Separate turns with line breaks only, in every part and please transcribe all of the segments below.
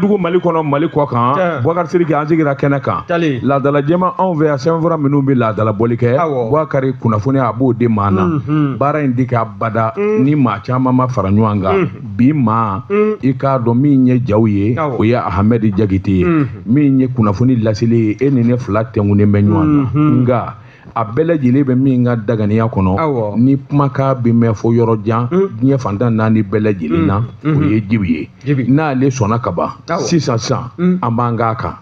dugu mali kɔnɔ mali kɔkan Boubacar Siriki an sigira kɛnɛ kan laadala jɛma anw fɛ yan sɛbɛnfura minnu bɛ laadalabɔli kɛ Boubacar kunnafoni a b'o di maa na mhm. baara in tɛ kɛ abada mhm. ni maa caman ma fara ɲɔgɔn kan mhm. bi maa i k'a dɔn min ye jaw ye o ye ahamɛdi jakite ye min ye kunnafoni laseli ye e ni ne fila tenkunnen bɛ ɲɔgɔn na nka a bɛɛ lajɛlen bɛ min ka daganiya kɔnɔ ni kumakan bɛ mɛn fo yɔrɔ jan mm. diɲɛ fan tan ni naani bɛɛ lajɛlen na mm. o mm. ye Djiby ye n'ale sɔnna ka ban sisan sisan an b'an k'a kan.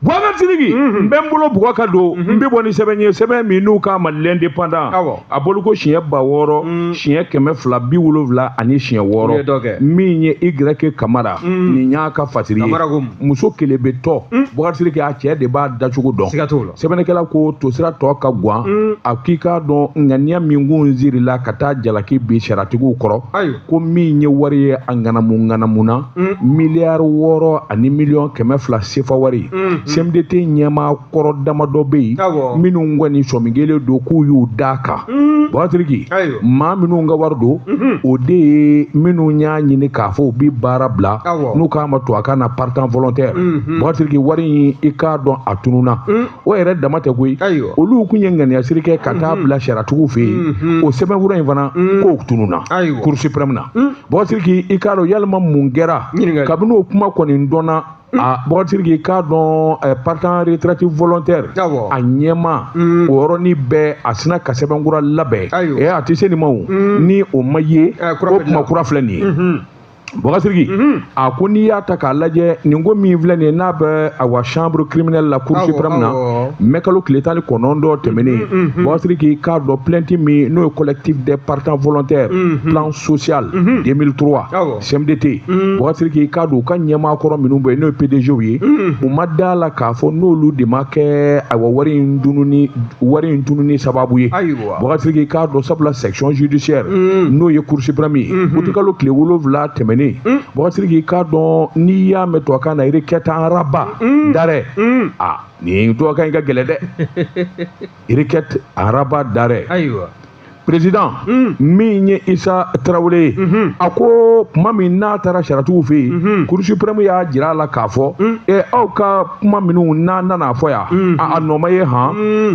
Boubacar Siriki n bɛ n bolo bugɔ ka don n bɛ bɔ ni sɛbɛn ye sɛbɛn min n'u k'a ma l'indépendant a bɔli ko siɲɛ ba wɔɔrɔ mm. siɲɛ kɛmɛ fila bi wolonwula ani siɲɛ wɔɔrɔ min ye Y Kamara mm. nin y'a ka fatiri ye muso kelebɛtɔ hmm? Boubacar Siriki a cɛ de b'a dacogo dɔn sɛbɛnnikɛla ko tosira tɔ ka gwan hmm? a k'i k'a dɔn ŋaniya min kun sirila ka taa jalaki bin sariyatigiw kɔrɔ ko min ye wari ye a ŋanamuŋanamuna hmm? miliyari wɔɔrɔ ani miliyɔn kɛmɛ fila sefa wari CMDT ɲɛmaa kɔrɔ damadɔ bɛ yen minnu kɔni sɔmi kɛlen don k'u y'u da kan mm. Boubacar Siriki maa minnu ka wari don mm-hmm. o de ye minnu y'a ɲini k'a fɔ u bɛ baara bila n'u k'a ma tubabukan na partant volontaire mm-hmm. Boubacar Siriki wari in i k'a dɔn a tununa mm. o yɛrɛ dama tɛ koyi olu kun ye ŋaniyasiri kɛ ka taa mm-hmm. bila sariyatigiw fɛ yen o sɛbɛnfura in fana k'o tununa Cour suprême na Boubacar Siriki i k'a dɔn yalima mun kɛra kabini o kuma kɔni dɔnna Ah. Boubacar Siriki k'a dɔn eh, partant retraite volontaire a ɲɛmaa mm. o yɔrɔnin bɛɛ a sina ka sɛbɛnkura labɛn eh, a tɛ se nin ma o mm. ni o ma ye eh, o kuma kura filɛ nin ye mm-hmm. Boubacar Siriki mm-hmm. a ko n'i y'a ta k'a lajɛ nin ko min filɛ nin ye n'a bɛ awa chambre criminelle la cour suprême na mɛkalo tile tan ni kɔnɔntɔn tɛmɛnen mm-hmm. Boubacar Siriki k'a dɔn plainte min n'o ye collectif des partants volontaires plan social 2003 CMDT mm. Boubacar Siriki k'a dɔn u ka ɲɛmaa kɔrɔ minnu bɛ yen n'o ye PDG ye mm. u ma da la k'a fɔ n'olu de ma kɛ ayiwa wari in tununi wari in tununi sababu ye Boubacar Siriki k'a dɔn sabula section judiciaire mm. n'o ye Cour suprême ye mm-hmm. utikalo tile wolonwula tɛmɛnen Boubacar Siriki k'a dɔn n'i y'a mɛn tubabukan na requête en rabat d'arrêt a nin tubabukan in ka gɛlɛn dɛ requête en rabat d'arrêt président hmm. min ye isa tarawele ye hmm. a ko kuma min n'a taara sariyatigiw fɛ yen hmm. cour suprême y'a jira a la k'a fɔ ɛ aw ka kuma minnu n'a nana fɔ yan a nɔ ma ye han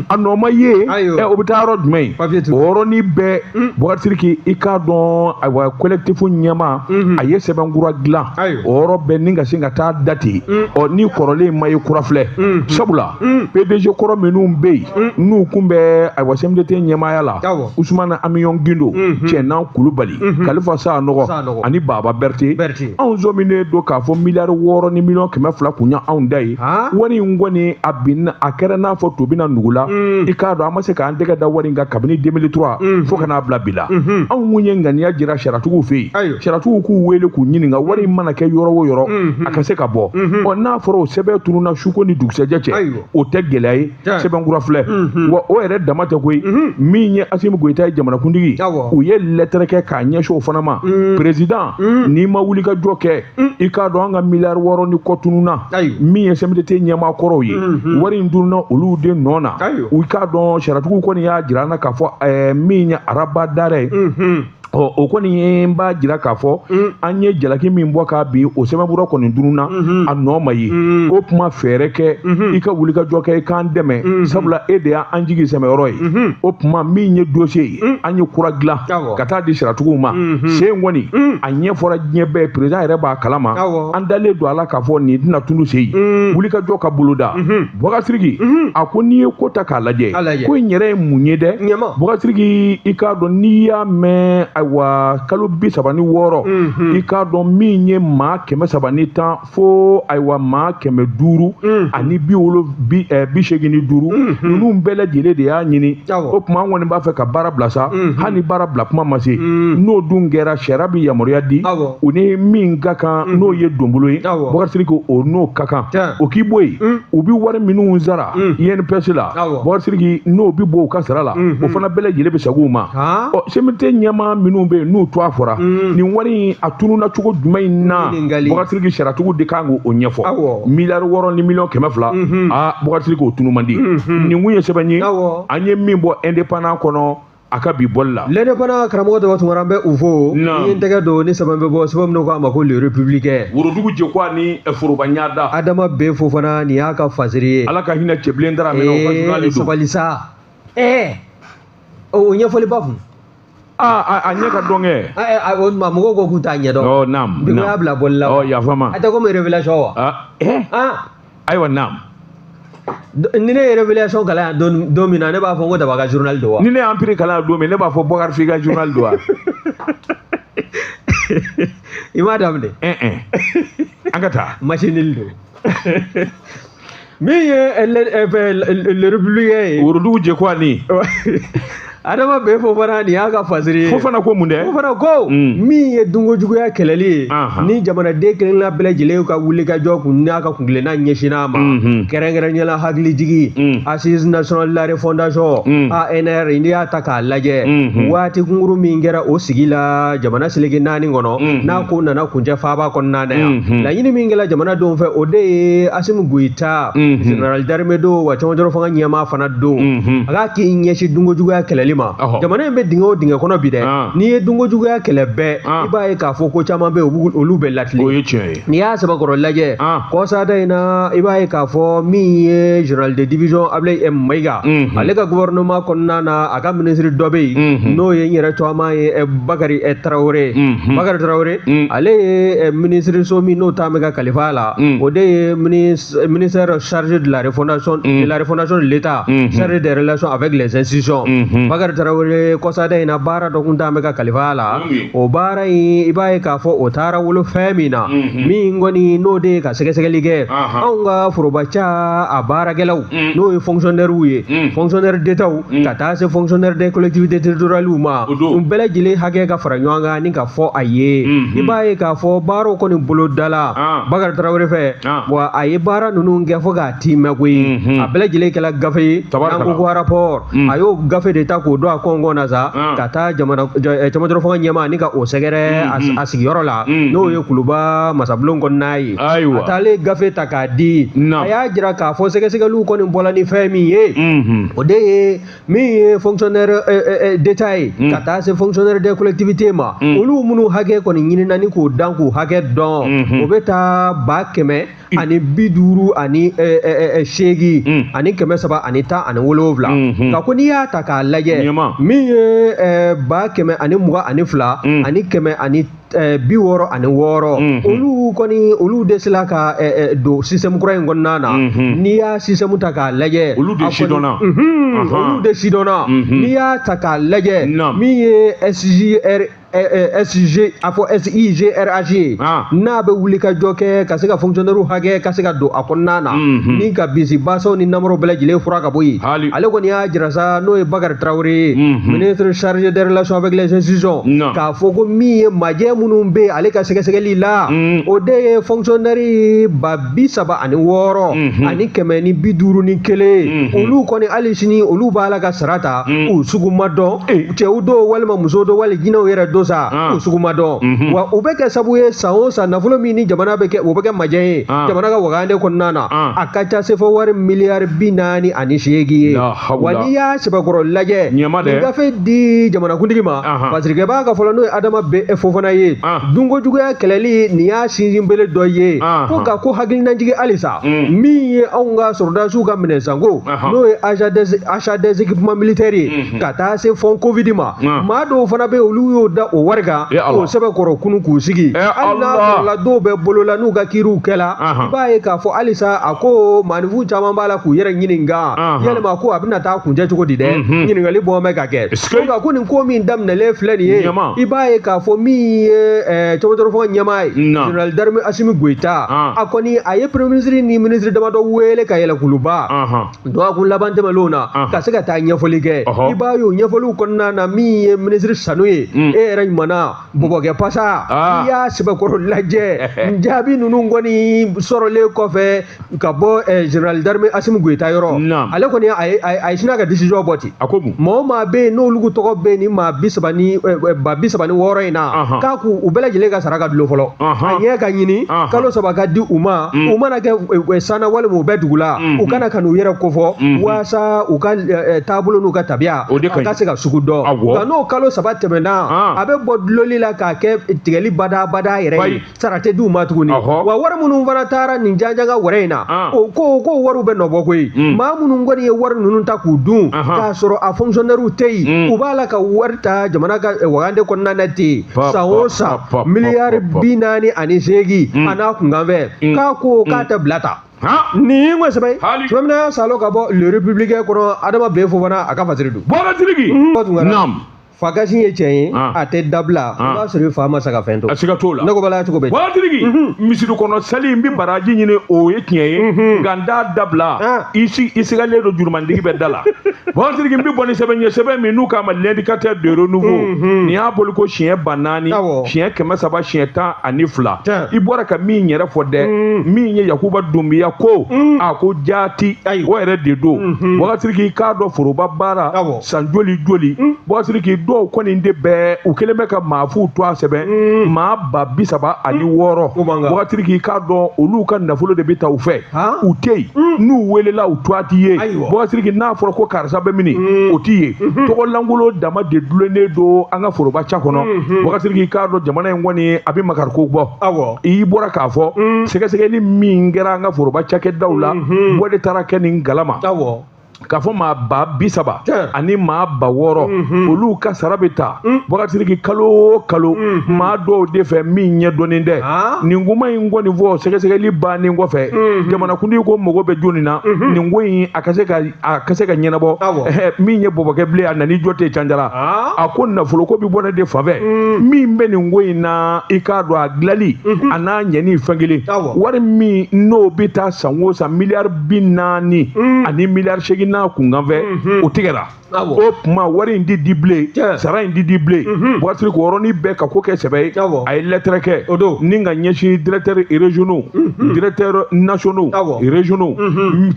a nɔ ma ye ɛ o bɛ taa yɔrɔ jumɛn ye o yɔrɔnin bɛɛ Boubacar Siriki i k'a dɔn ayiwa collectif ɲɛmaa a ye sɛbɛnkura dilan o yɔrɔ bɛɛ ni ka se ka taa dati ɔ ni kɔrɔlen ma ye kura filɛ sabula Mm. pdg kɔrɔ minnu bɛ yen mm. n'u kun bɛ ayiwa cmdt ɲɛmaaya la usumana amiyɔn gindo mm-hmm. cɛnan kulubali mm-hmm. kalifa sanɔgɔ ani baba bɛrite anw sɔminen don k'a fɔ miliyari wɔɔrɔ ni miliyɔn kɛmɛ fila kun y'anw ta ye wari in kɔni a bin a kɛra n'a fɔ to binna nugu la mm. i k'a dɔn an ma se k'an tɛgɛ da wari in kan kabini 2003 mm-hmm. fo ka n'a bila bi la anw kun ye ŋaniya jira sariyatigiw fɛ yen sariyatigiw k'u wele k'u ɲininka wari in mana kɛ yɔrɔ o yɔrɔ a ka se ka bɔ ɔ n'a fɔra o sɛbɛn tununna suko ni dugusɛjɛ cɛ o tɛ gɛlɛya ye sɛbɛn kura filɛ wa o yɛrɛ dama tɛ koyi min ye asimi goyita ye jamanakuntigi u ye lɛtɛrɛ kɛ k'a ɲɛsin o fana ma perezidan n'i ma wulikajɔ kɛ i k'a dɔn an ka miliyari wɔɔrɔ ni kɔ tununna min ye sɛmidete ɲɛmaa kɔrɔw ye wari in tununna olu de nɔ na u k'a dɔn sariyatigiw kɔni y'a jira an na k'a fɔ min ye rabat d'arrêt ye ɔ o kɔni ye n b'a jira k'a fɔ mm. an ye jalaki min bɔ k'a bin o sɛbɛnfura kɔni tununna mm-hmm. a nɔ ma ye mm. o tuma fɛɛrɛ kɛ mm-hmm. i ka wulikajɔ kɛ i k'an dɛmɛ mm-hmm. sabula e de y'an jigi sɛmɛyɔrɔ ye o tuma min ye dosiye ye mm. an ye kura dilan ka taa di sariyatigiw ma sen kɔni a ɲɛfɔra diɲɛ bɛɛ perezidan yɛrɛ b'a kalama an dalen don a la k'a fɔ nin tɛna tunun se yen wulikajɔ ka boloda Bubakar Sidiki mhm. a ko n'i ye ko ta k'a lajɛ ko in yɛrɛ ye mun ye dɛ Bubakar Sidiki i k'a dɔn n'i y'a mɛn ayiwa kalo bi saba ni wɔɔrɔ mhm. i k'a dɔn min ye maa kɛmɛ saba ni tan fo ayiwa maa kɛmɛ duuru mhm. ani bi wolo bi eh, bi seegin ni duuru ninnu bɛɛ lajɛlen de y'a ɲini o tuma an kɔni b'a fɛ ka baara bila sa hali ni baara bila kuma ma se n'o dun kɛra sariya bɛ yamaruya di u ni min ka kan n'o ye donbolo ye Bubakar Sidiki o n'o ka a kan o k'i bɔ yen mm. u bɛ wari minnu sara mm. INPS la Bubakar Sidiki n'o bɛ bɔ u ka sara la mm-hmm. o fana bɛɛ lajɛlen bɛ segin u ma ɔ CMDT ɲɛmaa minnu bɛ yen n'u tɔgɔ fɔra mm. nin wari in a tununna cogo jumɛn in na Bubakar Sidiki sariyatigiw de kan k'o ɲɛfɔ miliyari wɔɔrɔ ni miliyɔn kɛmɛ fila mm-hmm. aa Bubakar Sidiki o tunun man di mm-hmm. nin kun ye sɛbɛn ye an ye min bɔ indépendant kɔnɔ a ka bi bɔli la lɛne fana karamɔgɔ
daba tunkara an bɛ u fo i ye n tɛgɛ don ni sɛbɛn bɛ bɔ sɛbɛn minnu k'a ma ko le républicain worodugu jeko ani
foroba ɲada adama bɛ fo fana
nin y'a ka fasiri ye ala ka hinɛ cɛbilen
daramɛ o ka journal de don sabali
sa ɛɛ o ɲɛfɔliba kun aa
a ɲɛ ka dɔn kɛ o tuma mɔgɔw
ko k'u t'a ɲɛdɔn ɔ naam naam y'a bila
bɔli la ɔ
yafama a tɛ komi
révélation wa
ɛɛ
ayiwa
naam ni ne ye révélation kalan yan don don min na ne b'a fɔ ko daba ka journal don wa ni ne ye empire kalan yan don
min ne b'a fɔ bɔkari f'i ka journal don wa
i m'a daminɛ ɛn
ɛn an ka taa masinili
don min ye le le- le- le républicain ye worodugu jeko ani adama bɛ fɔ fana nin y'a ka fasiri ye fo fana ko mun dɛ fo
fana ko
mm. min ye dunko juguya kɛlɛli ye ni jamanaden kelenna bɛɛ lajɛlen ka wuli ka jɔ kun n'a ka kuntilenna ɲɛsinna a ma mm-hmm. kɛrɛnkɛrɛnnenya la hakilijigi mm. Assises nationales la refondation mm. ANR n'i y'a ta k'a lajɛ mm-hmm. waati kunkuru min kɛra o sigi la jamana seleke naani kɔnɔ mm-hmm. n'a ko nana kuncɛ faaba kɔnɔna na yan laɲini min kɛra jamanadenw fɛ o de ye Asimi Goyita général d'armée don wa cɔngɔjɔrɔ fanga ɲɛmaa fana don a k'a k'i ɲɛsin dunko juguya kɛlɛli ma jamana in bɛ dingɛ o dingɛ kɔnɔ bi dɛ n'i ye dunko juguya kɛlɛ bɛɛ i b'a ye k'a fɔ ko caman bɛ yen olu bɛ latile o ye tiɲɛ ye n'i y'a sɛbɛkɔrɔ lajɛ kɔsada in na i b'a ye k'a fɔ min ye général de division Ablaye M Mayiga ale ka gouvernement kɔnɔna na a ka ministre dɔ bɛ yen n'o ye n yɛrɛ tɔgɔma ye eh, Bakari eh, Tarawele Bakari Tarawele ale ye eh, ministre so min n'o talen bɛ ka kalifa a la o de ye ministre ministère chargé de la refondation, mm. de la refondation de l'État, mm -hmm. chargé des relations avec les institutions. Mm -hmm. Bakar Tarawele kɔsa da in na baara dɔ kun talen bɛ ka kalifa a la o baara in i b'a ye k'a fɔ o taara wolo fɛn min na min kɔni n'o de ye ka sɛgɛsɛgɛli kɛ anw ka foroba ca a baarakɛlaw n'o ye fonctionnaires ye fonctionnaires d'État ka taa se fonctionnaires des collectivités territoriales ma u bɛɛ lajɛlen hakɛ ka fara ɲɔgɔn kan ni ka fɔ a ye i b'a ye k'a fɔ baaraw kɔni bolodala Bakar Tarawele fɛ wa a ye baara ninnu kɛ fo k'a timɛ koyi a bɛɛ lajɛlen kɛla gafe ye n'an ko ko rapport a y'o gafe de ta k'o don a kɔnkɔn na sa ka taa jamana cɔngɔjɔrɔ fanga ɲɛmaa ni ka o sɛgɛrɛ a sigiyɔrɔ la n'o ye kuluba masabulon kɔnɔna ye a taalen gafe ta k'a di a y'a jira k'a fɔ sɛgɛsɛgɛliw kɔni bɔla ni fɛn min ye o de ye min ye fonctionnaire euh, euh, euh, d'état ye mm. ka taa se fonctionnaire des collectivités ma mm. olu minnu hakɛ kɔni ɲinina ni k'o dan k'u hakɛ dɔn mm-hmm. o bɛ taa ba kɛmɛ mm. ani bi duuru ani seegin mm. ani kɛmɛ saba ani tan ani wolonwula mm-hmm. ka ko n'i y'a ta k'a lajɛ min ye ba kɛmɛ ani mugan ani fila mm. ani kɛmɛ ani Eh, bi wɔɔrɔ ani wɔɔrɔ mhm. olu kɔni olu de sela ka eh, eh, don système kura in kɔnɔna na mhm. n'i y'a système ta k'a lajɛ olu de sidɔnna
mhm. olu de
sidɔnna n'i y'a ta k'a lajɛ min ye sjr SG a fɔ SIGRH ye ah. n'a bɛ wuli ka jɔ kɛ ka se ka fonctionnaires hakɛ ka se ka don a kɔnɔna na mhm. ni ka bisibasaw ni namaraw bɛɛ lajɛlen furan ka bɔ yen ale kɔni y'a jira sa n'o ye Bakari Tarawele ye mhm. ministre chargé des relations avec les institutions k'a fɔ ko min ye majɛ minnu bɛ yen ale ka sɛgɛsɛgɛli la mm. o de ye fɔnkisɔnɛri ba bi saba ani wɔɔrɔ mm-hmm. ani kɛmɛ ni bi duuru ni kelen mm-hmm. olu kɔni hali sini olu b'a la ka sara ta mm. u sugu ma dɔn eh. cɛw don walima muso don wali jinɛw yɛrɛ don sa ah. u sugu ma dɔn mm-hmm. wa u bɛ kɛ sabu ye san o san nafolo min ni jamana bɛ kɛ o bɛ kɛ majɛ ye ah. jamana ka wagande kɔnɔna na ah. a ka ca sefawari miliyari bi naani ani seegin ye wa n'i y'a sɛbɛkɔrɔ lajɛ nin gafe di jamanakuntigi ma fasirikɛbaa ka fɔ la n'o ye adama b fofana ye dunko juguya kɛlɛli nin y'a sinsinbere dɔ ye ko nka ko hakilinajigi halisa mm. min ye anw ka sɔrɔdasiw ka minɛnsanko n'o ye achat des équipements militaires ye mm-hmm. ka taa se fonds covid ma maa dɔw fana bɛ olu y'o da o wari kan k'o sɛbɛkɔrɔ kunu k'u sigi hali n'a sɔrɔla dɔw bɛ bolo la n'u ka kiriw kɛla i b'a ye k'a fɔ halisa a ko maaninfin caman b'a la k'u yɛrɛ ɲininka yalima ko a bɛna taa kuncɛ cogo di dɛ mhm. ɲininkali bɔ bɛ ka kɛ nka ko nin ko min daminɛlen filɛ nin ye i b'a ye k'a fɔ min ye eh, cɛbɔtɔrɔfɔ ɲɛmaa ye général d'armée asimi goyita ah. a kɔni a ye premier ministre ni ministre damadɔ wele ka yɛlɛ kuluba dɔgɔkun laban tɛmɛnlenw na ka se ka taa ɲɛfɔli kɛ i b'a ye o ɲɛfɔliw kɔnɔna na min ye ministre sanu ye mm. e yɛrɛ ɲumanna bɔbɔkɛ pasa ah. i y'a sɛbɛkɔrɔ lajɛ jaabi ninnu kɔni sɔrɔlen kɔfɛ ka bɔ eh, général d'armée asimi goyita yɔrɔ Naam. ale kɔni a ye- a ye- a ye sina ka décision bɔ ten a ko mun maa o maa bɛ yen n'olu tɔgɔ bɛ nin maa bi saba ni eh, eh, ba bi saba ni wɔɔrɔ in na Ahan. k'a k'u u bɛɛ lajɛlen ka sara ka dulon fɔlɔ Ahan. a ɲɛ ka ɲini Ahan. kalo saba ka di u ma u mana kɛ eh, eh, sanna walima u bɛ dugu la u ka na ka n'u yɛrɛ kofɔ walasa u ka eh, eh, taabolo n'u ka tabiya O de ka a ka ɲi. se ka sugu dɔn Awɔ. nka n'o kalo saba tɛmɛna Ah. a bɛ bɔ dulonli la k'a kɛ tigɛli badaa badaa yɛrɛ Bayi. ye sara tɛ d'u ma tuguni wa wari minnu fana taara nin jajaga wɛrɛ in na ah. o ko ko wariw bɛ nɔbɔ koyi hmm. maa minnu kɔni ye wari ninnu ta k'u dun k'a sɔrɔ a fonctionnaires tɛ yen hmm. u b'a la ka wari ta jamana ka eh, wagande kɔnɔna na ten san o san miliyari bi naani ani seegin hmm. a n'a kunkanfɛn k'a ko k'a tɛ bila ta nin ye n ka sɛbɛn ye tuma min na salo ka bɔ le républicain kɔnɔ adama b fofana a ka fasiri don waatigi fa kasi ye tiɲɛ ye ah. a tɛ dabila i ah. b'a sɔrɔ i fa ma sa ka fɛn to a siga t'o la ne ko bala cogo bɛ waatigi mhm.
misiri kɔnɔ sali n bɛ baraji ɲini o ye tiɲɛ ye mhm. nka n t'a dabila ah. i si i sigalen don jurumantigi bɛ da la waatigi n bɛ bɔ ni sɛbɛn ɲɛ sɛbɛn min n'u k'a ma l'indicateur de renouveau mhm. nin y'a bɔli ko siɲɛ ba naani siɲɛ kɛmɛ saba siɲɛ tan ani fila i bɔra ka min yɛrɛ fɔ dɛ min ye yakuba dunbiya ko a ko jaati o yɛrɛ de don waatigi k'a dɔn foroba baara san joli joli mm. waatigi dɔw kɔni de bɛ u kelen bɛ ka maa fuw tɔgɔ sɛbɛn mm. maa ba bi saba ani mm. wɔɔrɔ waatigi k'a dɔn olu ka nafolo de bɛ ta u fɛ u tɛ yen n'u welela u tɔgɔ tɛ ye waatigi n'a fɔra ko karisa bɛ mini o tɛ ye mm-hmm. tɔgɔlankolon dama de dulonnen don an ka foroba ca kɔnɔ mm-hmm. waatigi k'a dɔn jamana in kɔni a bɛ makariko bɔ i bɔra k'a fɔ sɛgɛsɛgɛli min kɛra an ka foroba cakɛdaw la mm-hmm. o de taara kɛ nin galama k'a fɔ maa ba bi saba ani maa ba wɔɔrɔ mhm. olu ka sara bɛ ta mm. wagatiki kalo o kalo mhm. maa dɔw de fɛ min ɲɛ dɔnnen tɛ ah. nin kuma in kɔni fɔ sɛgɛsɛgɛli bannen kɔfɛ mhm. jamanakuntigi ko mago bɛ jɔni na nin ko in a ka se ka a ka se ka ɲɛnabɔ min ye bɔbɔkɛ bilen a nani jɔ tɛ canjara ah. a ko nafolo ko bɛ bɔ ne de fan fɛ mm. min bɛ nin ko in na i k'a dɔn a dilali a n'a ɲɛni fɛn kelen wari min n'o bɛ taa san o san miliyari bi naani mm. ani miliyari seegin n'a kunkanfɛ mm-hmm. o tigɛra o tuma wari in tɛ di bilen sara in tɛ di bilen mm-hmm. buwatiri ko yɔrɔnin bɛɛ ka ko kɛ sɛbɛ ye a ye lɛtɛrɛ kɛ ni k'a ɲɛsin directeurs régionaux mm-hmm. directeurs nationaux régionaux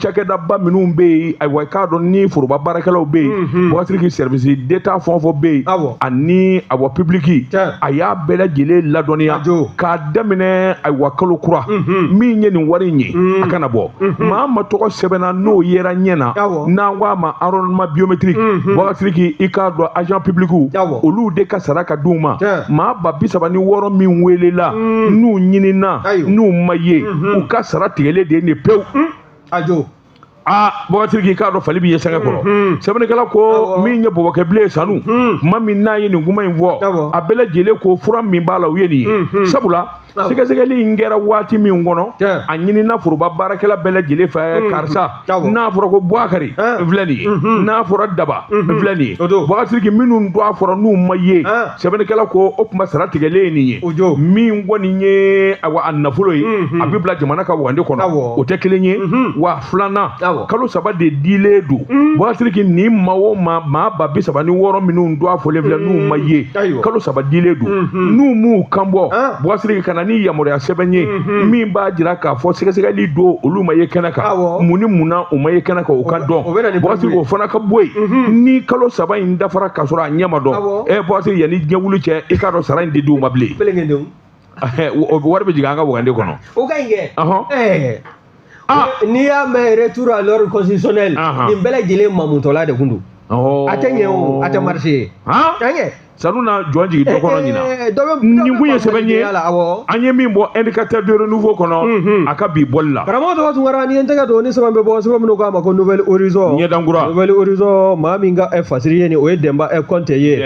cakɛdaba minnu bɛ yen ayiwa i k'a dɔn ni foroba baarakɛlaw bɛ yen buwatiri ki service d'état fɛn o fɛn bɛ yen ani awa public a y'a bɛɛ lajɛlen ladɔnniya k'a daminɛ ayiwa kalo kura min ye nin wari in ye a kana bɔ maa ma tɔgɔ sɛbɛnna n'o yera ɲɛ na n'an ko a ma enrôlement biométrique wagasiriki i k'a dɔn agent public olu de ka sara ka d'u ma maa ba bi saba ni wɔɔrɔ min welela n'u ɲinina n'u ma ye u ka sara tigɛlen de ye nin pewu ajo aa bɔgɔtiri k'i k'a dɔn fali b'i ye sɛgɛ kɔrɔ mhm. sɛbɛnnikɛla ko min ye bɔbɔkɛ bilen ye sanu mhm. tuma min n'a ye nin kuma in fɔ a bɛɛ lajɛlen ko fura min b'a la o ye nin ye mhm. sabula sɛgɛsɛgɛli in kɛra waati min kɔnɔ a ɲinina foroba baarakɛla bɛɛ lajɛlen fɛ karisa n'a fɔra ko buwakari n filɛ nin ye n'a fɔra daba n filɛ nin ye bɔgɔtiri minnu tɔgɔ fɔra n'u ma ye sɛbɛnnikɛla ko o tuma sara tigɛlen ye nin ye o jo min kɔni ye awa a nafolo ye mhm. a bɛ bila jamana ka wagande kɔnɔ o tɛ kelen ye mhm. wa filanan kalo saba de dilen don mhm. bɔnsiriki ni maa o maa maa ba bi saba ni wɔɔrɔ minnu tɔgɔ fɔlen filɛ n'u ma ye kalo saba dilen don n'u m'u kan bɔ ah. bɔnsiriki ka na ni yamaruya sɛbɛn ye min b'a jira k'a fɔ sɛgɛsɛgɛli don olu ma ye kɛnɛ kan mun ni mun na u ma ye kɛnɛ kan o ka dɔn bɔnsiriki o fana ka bɔ yen ni kalo saba in dafara ka sɔrɔ a ɲɛ ma dɔn e bɔse yanni diɲɛ wuli cɛ i k'a dɔn sara in tɛ di u ma bilen wari bɛ jigin an ka wagande kɔnɔ o ka ɲi kɛ
ah. n'i y'a mɛn retour à l'ordre constitutionnel nin bɛɛ lajɛlen mamutɔla de tun don oh. a tɛ ɲɛ o a tɛ marché ye a ɲɛ
sanu na jɔn jigin dɔ kɔnɔ ɲinan eh, eh, eh, nin kun ye sɛbɛn ye an ye min bɔ indicateur de renouveau kɔnɔ mhm. a ka bi bɔli la karamɔgɔ tɔgɔ tunkara ni ye n tɛgɛ
don ni sɛbɛn bɛ bɔ sɛbɛn min n'u k'a ma ko nouvel horizon ɲɛdankura nouvel
horizon
maa min ka fasiri ye nin o ye dɛnba kɔnte ye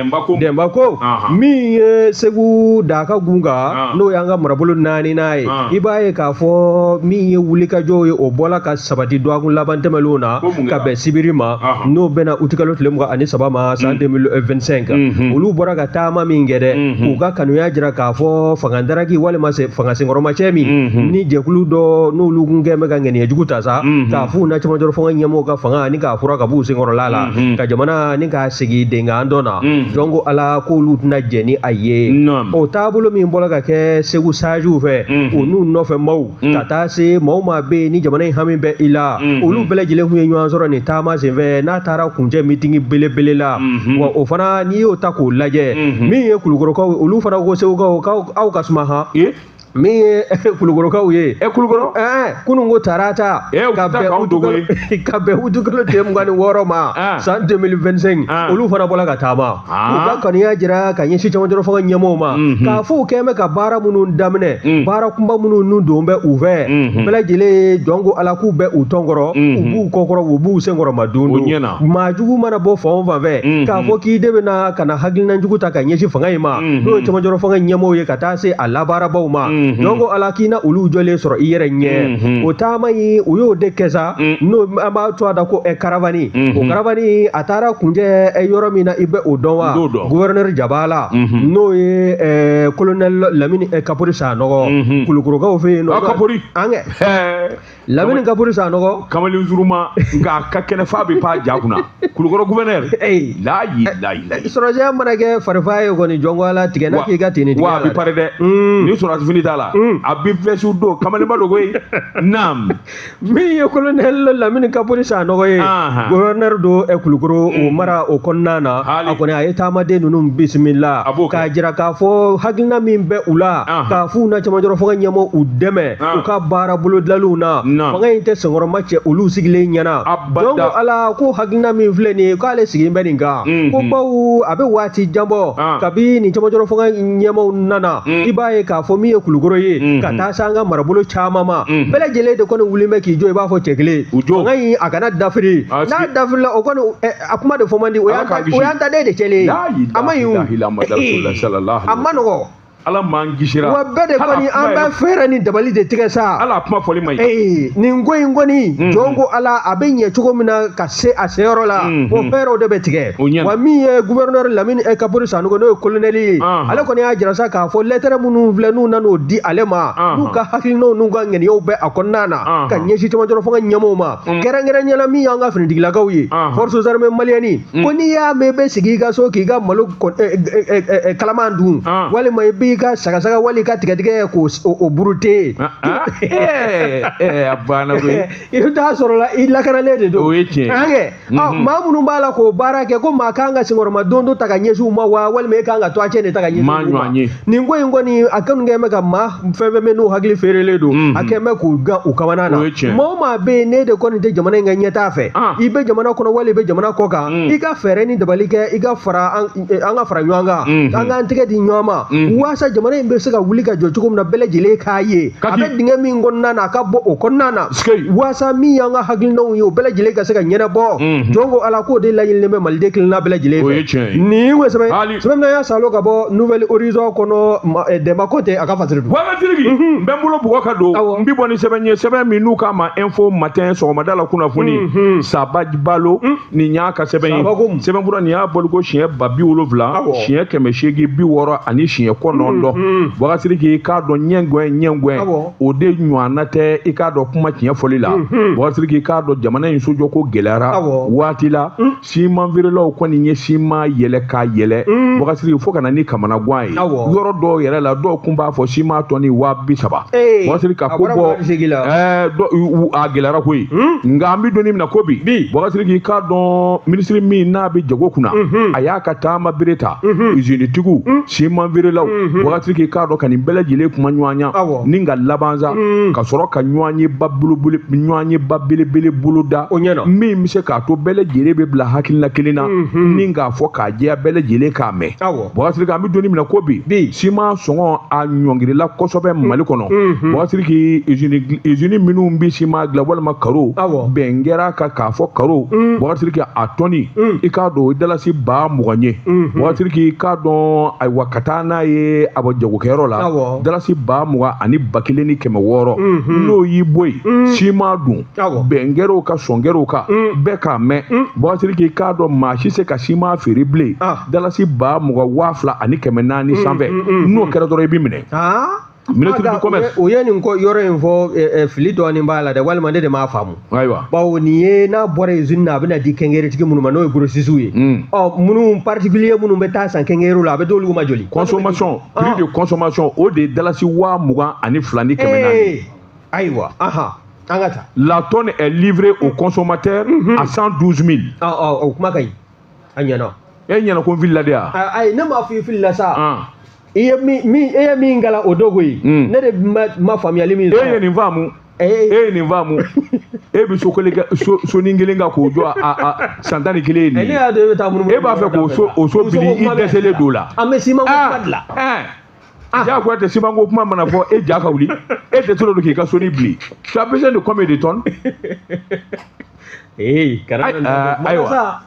denba ko min ye segu daka gun kan n'o y'an ka marabolo naaninan ye i b'a ye k'a fɔ min ye wulikajɔw ye o bɔla ka sabati dɔgɔkun laban tɛmɛnlenw na ka bɛn sibiri ma n'o bɛnna utikalo tile mugan ani saba ma san 2025 kan olu bɔra ka taama min kɛ dɛ k'u ka kanuya jira k'a fɔ fangadaraki walima fangasenkɔrɔmacɛ min ni jɛkulu dɔ n'olu kun kɛn bɛ ka ŋaniyajugu ta sa k'a f'u na camancɛrɔ fanga ɲɛmɔgɔw ka fanga nin k'a furan ka b'u senkɔrɔ laala ka jamana nin k'a sigi denkan dɔ na jɔn ko ala k'olu tɛna jɛn ni a ye o taabolo min bɔra ka kɛ segu sajiw fɛ u n'u nɔfɛ maaw ka taa se maa o maa bɛ yen ni jamana in hami bɛ i la olu bɛɛ lajɛlen tun ye ɲɔgɔn sɔrɔ nin taama senfɛ n'a taara kuncɛ mitingi belebele la wa o fana n'i y'o ta k'o lajɛ min ye kulukorokaw olu fana ko segukaw aw ka suma han min ye kulukorokaw ye ɛ kulukoro kunun ko tarata ka bɛn utikalo tile mugan ni wɔɔrɔ ma san 2025 olu fana bɔra ka taama u ka kanuya jira ka ɲɛsin camancɛrɔ fanga ɲɛmɔgɔw ma k'a fɔ u kɛn bɛ ka baara minnu daminɛ baara kunba minnu n'u don bɛ u fɛ bɛɛ lajɛlen ye jɔn ko ala k'u bɛ u tɔn kɔrɔ u b'u kɔkɔrɔ u b'u senkɔrɔmadondon maa jugu mana bɔ fan o fan fɛ k'a fɔ k'i de bɛ na ka na hakilina jugu ta ka ɲɛsin fanga in ma mhm. n'o ye cɛmancɛrɔ fanga ɲɛmɔgɔw ye ka taa se a labaarabaw ma mhm. jɔn ko ala k'i na olu jɔlen sɔrɔ i yɛrɛ ɲɛ mhm. o taama in u y'o de kɛ sa mm. n'o an b'a to a da ko ɛ eh, karavani o karavani a taara kuncɛ eh, yɔrɔ min na i bɛ o dɔn wa gouverneur jabala n'o ye eh, colonel lamini kapori sanɔgɔ kulukorokaw fɛ yen nɔ ah, kapori an kɛ lamini kapori sanɔgɔ kamalen
surunman nka a ka kɛnɛ f'a bɛ pan ja kunna kulukɔrɔ guvɛnɛri eyi layi layi layi
sɔrɔsiya mana kɛ farifa ye kɔni jɔnko ala tigɛ n'a k'i ka teni tigɛ wa a bɛ pare dɛ
mm. ni sɔrɔsi fini t'a la mm. a bɛ vɛsiw don kamalenba don koyi naam min
ye kolonɛli lamini kapori sanɔgɔ ye guvɛnɛri don eh, kulukoro o mm. mara o kɔnɔna na a kɔni a ye taamaden ninnu bisimila k'a jira k'a fɔ hakilina min bɛ u la k'a f'u na camancɛrɔ fanga ɲɛmɔgɔw dɛmɛ u ka baara bolodalenw na fanga in tɛ senkɔrɔma cɛ olu sigilen ɲɛna donc ala ko hakilina min filɛ nin ye k'ale sigilen bɛ nin kan ko bawo a bɛ waati jan bɔ kabi nin camancɛrɔ fanga ɲɛmaw nana i b'a ye k'a fɔ min ye kulukoro ye ka taa se an ka marabolo caman ma bɛɛ lajɛlen de kɔni wulilen bɛ k'i jɔ i b'a fɔ cɛ kelen fanga in a kana dafiri n'a dafirila o kɔni a kuma de fɔ man di o y'an ta den de cɛlen ye a man ɲi o a man nɔgɔ ala
m'an kisira wa bɛɛ de kɔni
an bɛ fɛɛrɛ ni dabali de tigɛ sa ala kuma fɔli man ɲi
ee nin ko in kɔni
mm-hmm. jɔn ko ala a bɛ ɲɛ cogo min na ka se a seyɔrɔ la mm-hmm. o fɛɛrɛw de bɛ tigɛ wa min ye gouverneur lamini kapori sanɔgɔ n'o ye colonel ye uh-huh. ale kɔni y'a jira sa k'a fɔ lɛtɛrɛ minnu filɛ n'u nan'o di ale ma uh-huh. n'u ka hakilinaw n'u ka ŋaniyaw bɛ a kɔnɔna na uh-huh. ka ɲɛsin camancɛla fanga ɲɛmɔgɔw ma mm. kɛrɛnkɛrɛnnenya la min y'an ka finitigilakaw ye forces armées maliennes ko n'i y'a mɛn i bɛ sigi i ka so k'i ka malo kalaman dun walima i b'i ka sagasaga wali ka tigadɛgɛ k' o burute banna
i bɛ taa sɔrɔ la
i lakanalen de don o ye tiɲɛ maa minnu b'a la k'o baara kɛ ko maa kan ka senkɔrɔma don dɔ ta ka ɲɛsin u ma wa walima e kan ka to a cɛ de ta ka ɲɛsin u ma nin ko in kɔni a kanu kɛ bɛ ka maa fɛn fɛn bɛ n'u hakili feerelen don a kɛ bɛ k'u gan u kamana na maa o maa bɛ yen n'e de kɔni tɛ jamana in ka ɲɛtaa fɛ i bɛ jamana kɔnɔ wali i bɛ jamana kɔ kan mm. i ka fɛɛrɛ ni dabali kɛ i ka fara an eh, ka fara ɲɔgɔn kan mm-hmm. an k'an tɛgɛ di ɲɔgɔn ma mm-hmm. waasa jamana in bɛ se ka wuli ka jɔ cogo min na bɛɛ lajɛlen k'a ye a bɛ dingɛ min kɔnɔna na a ka bɔ o kɔnɔna na waasa min y'an ka hakilinaw ye o bɛɛ lajɛlen ka se ka ɲɛnabɔ mm-hmm. jɔn ko ala k'o de laɲininen bɛ maliden kelenna bɛɛ lajɛlen fɛ nin ye o sɛbɛn sɛbɛn y'a salo ka bɔ nouvel horizon kɔnɔ eh, dɛmba konte a ka fasiri don wakasiri k'i n
bɛ n bolo bugɔ ka don n bɛ bɔ ni sɛbɛn ye sɛbɛn min n'u k'a ma info matin sɔgɔmada la kunnafoni saba balo nin y'a ka sɛbɛn ye sɛbɛn fura nin y'a bɔliko siɲɛ ba bi wolonwula siɲɛ kɛmɛ seegin bi wɔɔrɔ ani siɲɛ kɔnɔntɔn wakasiri k'i k'a dɔn ɲɛngɔn ɲɛngɔn o de ɲɔgɔnna tɛ i k'a dɔn kuma tiɲɛ fɔli la wakasiri k'i k'a dɔn jamana in sojɔko gɛlɛyara waati la siman feerelaw kɔni ye siman yɛlɛ k'a yɛlɛ mm. wagasiri fo ka na ni kamana gan ye yɔrɔ dɔw yɛrɛ la dɔw kun b'a fɔ siman tɔni waa bi saba wagasiri ka ko bɔ a gɛlɛyara koyi mm. nka an bɛ donni min na ko bi wagasiri k'i k'a dɔn minisiri min n'a bɛ jago kunna mm-hmm. a y'a ka taama bere ta mm-hmm. izinitigiw mm. siman feerelaw mm-hmm. wagasiri k'i k'a dɔn ka nin bɛɛ lajɛlen kumaɲɔgɔnya ni ka laban sa ka sɔrɔ ka ɲɔgɔnye ba belebele boloda min bɛ se ka to bɛɛ lajɛlen bɛ bila hakilina kelen na mhm. ni k'a fɔ k'a jɛya bɛɛ lajɛlen k'a mɛn wagasiri k'an bɛ donni min na ko bi siman sɔngɔ a ɲɔngirila kosɛbɛ mhm. mali kɔnɔ mhm. wagasiri k'i izini minnu bɛ siman dilan walima karo bɛn kɛra ka k'a fɔ karo wagasiri k'i a tɔni i k'a dɔn o dalasi ba mugan ye wagasiri k'i k'a dɔn ayiwa ka taa n'a ye a bɔ jagokɛyɔrɔ la dalasi ba mugan ani ba kelen ni kɛmɛ wɔɔrɔ n'o y'i bɔ yen siman dun bɛn kɛr'o kan sɔn kɛr'o kan mm. bɛɛ k'a mɛn mm. bakasiriki k'a dɔn maa si se ka siman feere bilen ah. dalasi ba mugan waa fila ani kɛmɛ naani mm, sanfɛ n'o kɛra dɔrɔn i bɛ minɛ ah. ministre du commerce o ye nin ko yɔrɔ in
fɔ eh, eh, fili dɔɔnin b'a la dɛ walima ne de m'a faamu ayiwa bawo nin
ye
n'a bɔra usine na a bɛna di quincaillerie tigi minnu ma n'o ye grossistes ye hmm. ɔ minnu particulier minnu bɛ taa san quincaillerie la a bɛ d'olu ma joli consommation ah. prix de
consommation o de ye dalasi waa mugan ani fila ni kɛmɛ naani eh, ayiwa
an ka taa la tonne
est livrée au consommateur à 112 000 ɔ ɔ o kuma ka
ɲi a ɲɛna e ɲɛna ko n filila
de wa a- ayi ne m'a fɔ i filila
sa Ɔn. i ye min min e ye min kalan o don koyi Mm. ne de ma ma faamuyali min e ye sɔrɔ nin
faamu e ee ye nin faamu e bɛ so kelen kɛ so sonin kelen kan k'o jɔ a a a san tan ni kelen ye nin ye ne y'a dɔn e bɛ taa munumunu e b'a
fɛ k'o so
o
so
bili i dɛsɛlen don o la an bɛ siman ko kuma de la
ɛɛ Ah.
Ja ko tɛ siman ko kuma mana fɔ e ja ka wuli e tɛ tɔli don k'i ka sonin bili tu as besoin de combien de tonnes ee kana ayiwa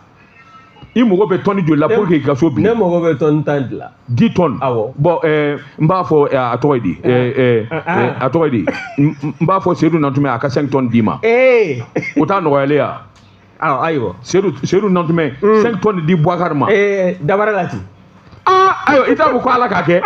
i mago bɛ tɔni joli la pour que i ka so bili ne mago bɛ tɔni
tan de la dix tonnes
awɔ bɔn
ɛɛ n
b'a fɔ a tɔgɔ ye di ɛɛ ɛɛ a tɔgɔ ye di n b'a fɔ seyidu nantumɛ a ka cinq tonnes d'i ma ee o t'a nɔgɔyalen ya awɔ
ayiwa seyidu
seyidu nantumɛ mm. cinq tonnes di buwakari ma ee eh, dabara la
ten aa ah,
ayiwa i t'a fɔ ko ala k'a kɛ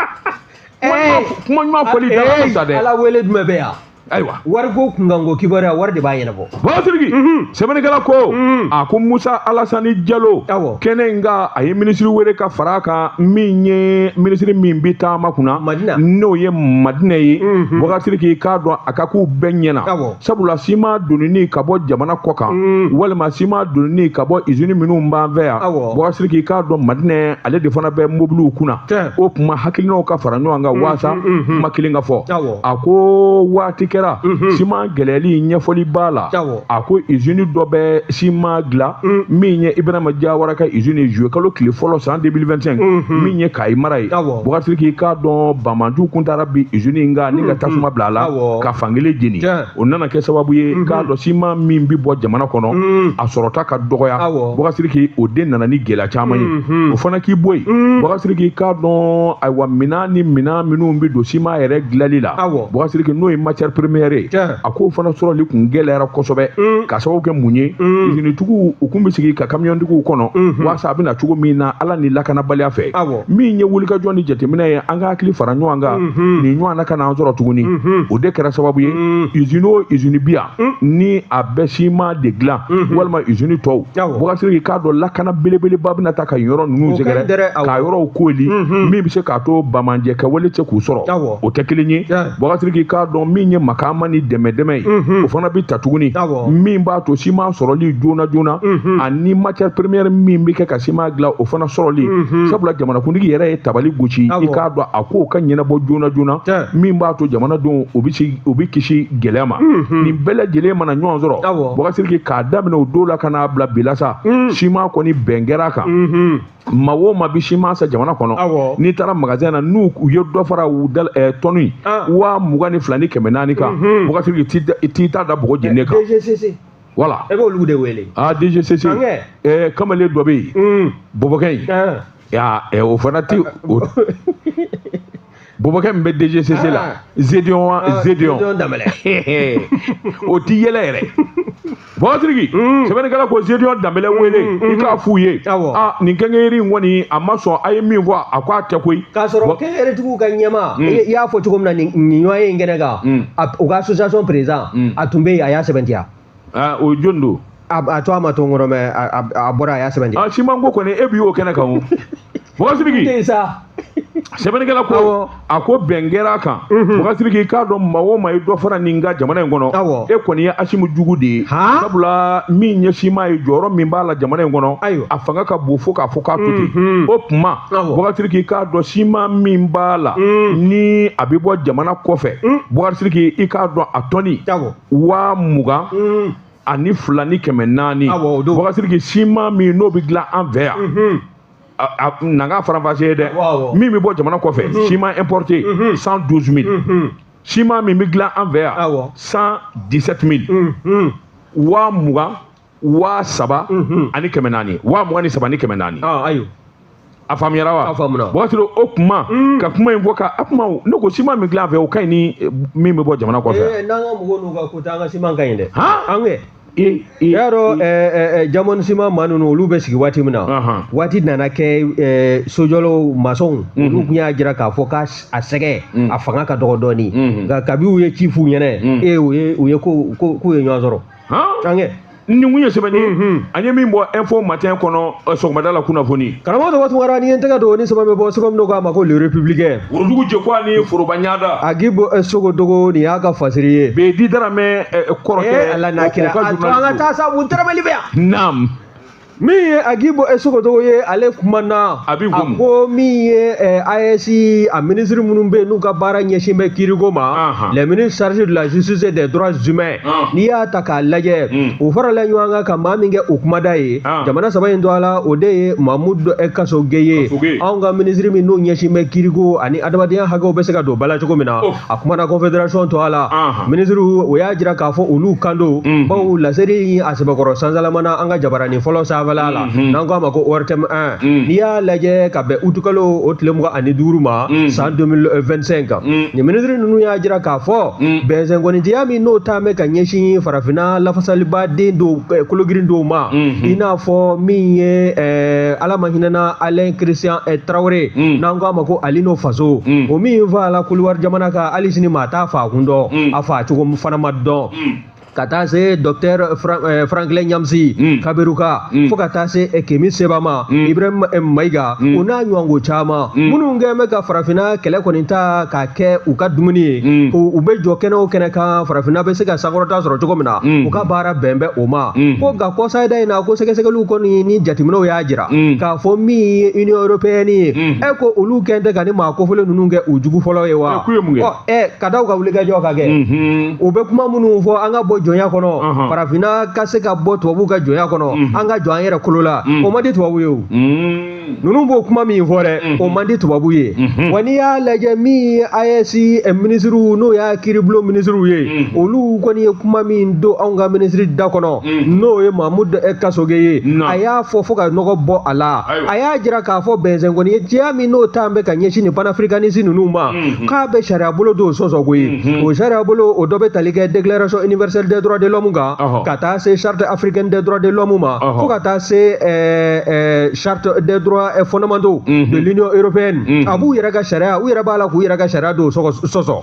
eh. kuma ɲuman fɔli eh, dabara sa dɛ ala wele jumɛn bɛ yan
ayiwa wariko
kunkanko
kibaruya wari de b'a ɲɛnabɔ bakasiriki
mhm. sɛbɛnnikɛla ko mhm. a ko musa alasani jalo kɛnɛ in kan a ye minisiri wele ka fara a kan min ye minisiri min bɛ taama kunna n'o ye madina ye mhm. bakasiriki k'a dɔn a ka k'u bɛɛ ɲɛna sabula siman donini ka bɔ jamana kɔ kan mm. walima siman donini ka bɔ izini minnu b'an fɛ yan bakasiriki k'a dɔn madina ale de fana bɛ mobiliw kunna o tuma hakilinaw ka fara ɲɔgɔn kan mm-hmm, waasa mm-hmm. kuma kelen ka fɔ a ko waati kɛra mm-hmm. siman gɛlɛyali ɲɛfɔli b'a la a ko izini dɔ bɛ siman dilan mm. min ye ibrahima jawara ka izini ye juillet kalo tile fɔlɔ san 2025 min ye kayi mara ye bakasiriki k'a dɔn banbaanciw kun taara bin izini in kan ni ka tasuma bila a la ka fankelen jeni o nana kɛ sababu ye mhm. k'a dɔn siman min bɛ bɔ jamana kɔnɔ mhm. a sɔrɔta ka dɔgɔya bakasiriki o de nana ni gɛlɛya caman ye mhm. o fana k'i bɔ yen bakasiriki k'a dɔn ayiwa minɛn ni minɛn minnu bɛ don siman yɛrɛ dilanli la bakasiriki n'o ye matière première ye a k'o fana sɔrɔli kun gɛlɛyara kosɛbɛ ka sababu kɛ mun ye izinitigiw u kun bɛ sigi ka kamiyɔntigiw kɔnɔ walasa a bɛna cogo min na ala ni lakanabaliya fɛ min ye wulikajɔ ni jateminɛ ye an ka hakili fara ɲɔgɔn kan mhm. nin ɲɔgɔnna kan'an sɔrɔ tuguni mhm. o de kɛra sababu ye izini mhm. o izini bi yan ni a bɛ siman de dilan walima izini tɔw bakasiriki k'a dɔn lakana belebeleba bɛna taa ka yɔrɔ ninnu sɛgɛrɛ ka yɔrɔw kooli min bɛ se k'a to banbaanciw kɛwale tɛ se k'u sɔrɔ o tɛ kelen ye Bakasiriki k'a dɔn min ye makaama ni dɛmɛdɛmɛ ye o fana bɛ ta tuguni min b'a to siman sɔrɔli joona joona ani matière première min bɛ kɛ ka siman dilan o fana sɔrɔli sabula jamanakuntigi yɛrɛ ye tabali gosi i k'a dɔn a kow ka ɲɛnabɔ joona joona min b'a to jamanadenw u bɛ kisi gɛlɛya ma nin bɛɛ lajɛlen mana ɲɔgɔn sɔrɔ Bakasiriki k'a daminɛ o don la ka n'a bila bi la sa siman kɔni bɛn kɛra a kan. maa o maa bi siman san jamana kɔnɔ n'i taara magasin na n'u ye dɔ fara u da eh, tɔni ah. wa mugan ni fila ni kɛmɛ naani kan mhm. Bakasiriki t'i ta da bɔgɔ jeni kan voilà e b'olu de
wele aa ah, DGCC
eh, kamalen dɔ bɛ yen mm. bɔbɔkɛ in ah. eh, o fana tɛ bɔbɔkɛ min bɛ DGCC la ah. Zedion wa ah, Zedion o ti yɛlɛ yɛrɛ Bakasiriki mm. sɛbɛnnikɛla ko Zedion Danbɛlɛ mm, wele mm, i k'a f'u ye ah, nin quincaillerie in kɔni a ma sɔn a ye min fɔ a ko a tɛ koyi k'a sɔrɔ quincaillerie
tigiw ka ɲɛmaa i y'a fɔ cogo min na nin ɲɔgɔnye in kɛnɛ kan u ka association président a tun bɛ yen a y'a sɛbɛntiya aa o
jɔni don a a tɔgɔ ma to n
kɔnɔ mɛ a a- a bɔra a y'a sɛbɛntiya siman ko kɔni e bi
y'o kɛnɛ kan o Bakasiriki tɛ sa sɛbɛnnikɛla ko Awɔ. a ko bɛn kɛra a kan Mhm. Bakasiriki k'a dɔn maa o maa ye dɔ fara nin kan jamana in kɔnɔ Awɔ. e kɔni ye Asimi jugu de ye Han? sabula min ye siman ye jɔyɔrɔ min b'a la jamana in kɔnɔ Ayiwa. a fanga ka bon fo k'a fɔ k'a to ten Mhm. o tuma Awɔ. Bakasiriki k'a dɔn siman min b'a la Mm. ni a bɛ bɔ jamana kɔfɛ Mm. Bakasiriki i k'a dɔn a tɔni awɔ waa mugan mm. ani fila ni kɛmɛ naani Bakasiriki siman min n'o bɛ dilan an fɛ yan mm-hmm. n'an k'a faranfasiya dɛ min bɛ bɔ jamana kɔfɛ mm-hmm. siman importé mm-hmm. cent douze mille siman min bɛ dilan an fɛ yan cent dix sept mille waa mugan waa saba mhm. ani kɛmɛ naani waa mugan ni saba ni kɛmɛ naani ah, ayiwa a faamuyara wa waati dɔ
o kuma
mm. ka kuma in fɔ ka a kuma ne ko siman min dilan fɛ o ka ɲi ni eh, min bɛ bɔ jamana kɔfɛ eh, n'an ka mɔgɔw n'u ka ko
ta an ka siman ka ɲi dɛ an kɛ i y'a dɔn eh, Diamond siman maa ninnu olu bɛ sigi waati min na waati nana kɛ sojɔlaw masɔnw mhm. olu tun y'a jira k'a fɔ k'a a sɛgɛ mm. a fanga ka dɔgɔ dɔɔnin mhm. nka kabi u ye ci f'u ɲɛna mm. e u ye ko k'u ye ɲɔgɔn sɔrɔ an kɛ nin kun ye sɛbɛn
ye mhm. an ye min bɔ info matin kɔnɔ eh, sɔgɔmada la kunnafoni karamɔgɔ tɔgɔ tugara ni ye
n tɛgɛ don ni sɛbɛn bɛ bɔ sɛbɛn min k'a ma ko le républicain worodugu jɛko
ani foroba ɲada Agibu eh,
Sogodogo nin y'a ka fasiri ye Beyidi
Daramɛ eh, kɔrɔkɛ ala n'a kira a to
an ka taa sabu tɛrɛmɛli bɛ yan naam
min
ye Agibu e Sogodogo ye ale kumana a
ko min
ye eh, AES a minisiri minnu bɛ n'u ka baara ɲɛsin bɛ kiiriko ma les ministres chargés de la justice et des droits humains n'i y'a ta k'a lajɛ hmm. u farala ɲɔgɔn kan ka maa min kɛ u kumada ye jamana saba in tɔgɔ la o de ye Mamudu eh, Kasoge ye anw ka minisiri min n'o ɲɛsin bɛ kiiriko ani adamadenya hakɛw bɛ se ka don ba la cogo min na a kumana confédération tɔgɔ la minisiriw o y'a jira k'a fɔ olu kan don mhm. bawo laseli in a sɛbɛkɔrɔ sansalamana an ka jabaranin fɔlɔ sanfɛla la mhm. n'an k'a ma ko ortm 1 mhm. n'i y'a lajɛ ka bɛn utikalo o tile mugan ani duuru ma san 2025 kan nin minisiri ninnu y'a jira k'a fɔ bɛnsɛnkɔnintiya min n'o ta bɛ ka ɲɛsin farafinna lafasaliba den dɔw eh, kologirin dɔw ma i n'a fɔ min ye eh, ala ma hinɛna alain christian eh, tarawele mm. n'an ko a ma ko alino faso mm. o min fa la kodiwari jamana kan hali sini maa t'a fa kun dɔn mm. a fa cogo fana ma dɔn mm. ka taa se docteur eh, franklin nyamsi mm. kamerunka mm. fo ka taa se eh, kemi seba ma mm. ibrahim eh, maiga mm. o n'a ɲɔgɔnko caman mm. minnu kɛn bɛ ka farafinna kɛlɛ kɔni ta k'a kɛ u ka dumuni ye mm. u bɛ jɔ kɛnɛ o kɛnɛ kan farafinna bɛ se ka sankɔrɔta sɔrɔ cogo min na mm. u ka baara bɛn bɛ o ma mm. ko nka kɔsayida in na ko sɛgɛsɛgɛliw kɔni ni jateminɛw y'a jira mm. k'a fɔ min ye union européenne ye mm. e ko olu kɛn tɛ ka nin maa kofɔlen ninnu kɛ u jugu fɔlɔ ye wa ɛ ka da u ka wulikajɔ kan kɛ mm-hmm. u bɛ kuma minnu fɔ an ka bɔ jɔnya kɔnɔ uh-huh. farafinna ka se ka bɔ tubabuw ka jɔnya kɔnɔ mm-hmm. an ka jɔ an yɛrɛ kolo la mm. o man di tubabu ye o ninnu b'o kuma min fɔ dɛ mm-hmm. o man di tubabu ye wa n'i y'a lajɛ min ye AES eh, minisiriw n'o y'a kiiribulon minisiriw ye olu kɔni ye kuma min don anw ka minisiri da kɔnɔ Mm. n'o ye mamudu eh, kasoge ye a y'a fɔ fo ka nɔgɔ bɔ a la a y'a jira k'a fɔ bɛnsɛnkɔnintiya min n'o ta bɛ ka ɲɛsin nin panafricaniste ninnu ma mm-hmm. k'a bɛ sariyabolo dɔw sɔsɔ koyi mm-hmm. o sariyabolo o dɔ bɛ tali kɛ déclaration universelle des droits de l'homme kan ka taa se charte africaine des droits de l'homme ma fo ka taa se eh, eh, charte des droits fondamentaux mm-hmm. de l'union européenne a b'u yɛrɛ ka sariya u yɛrɛ b'a la k'u yɛrɛ ka sariya dɔ sɔsɔ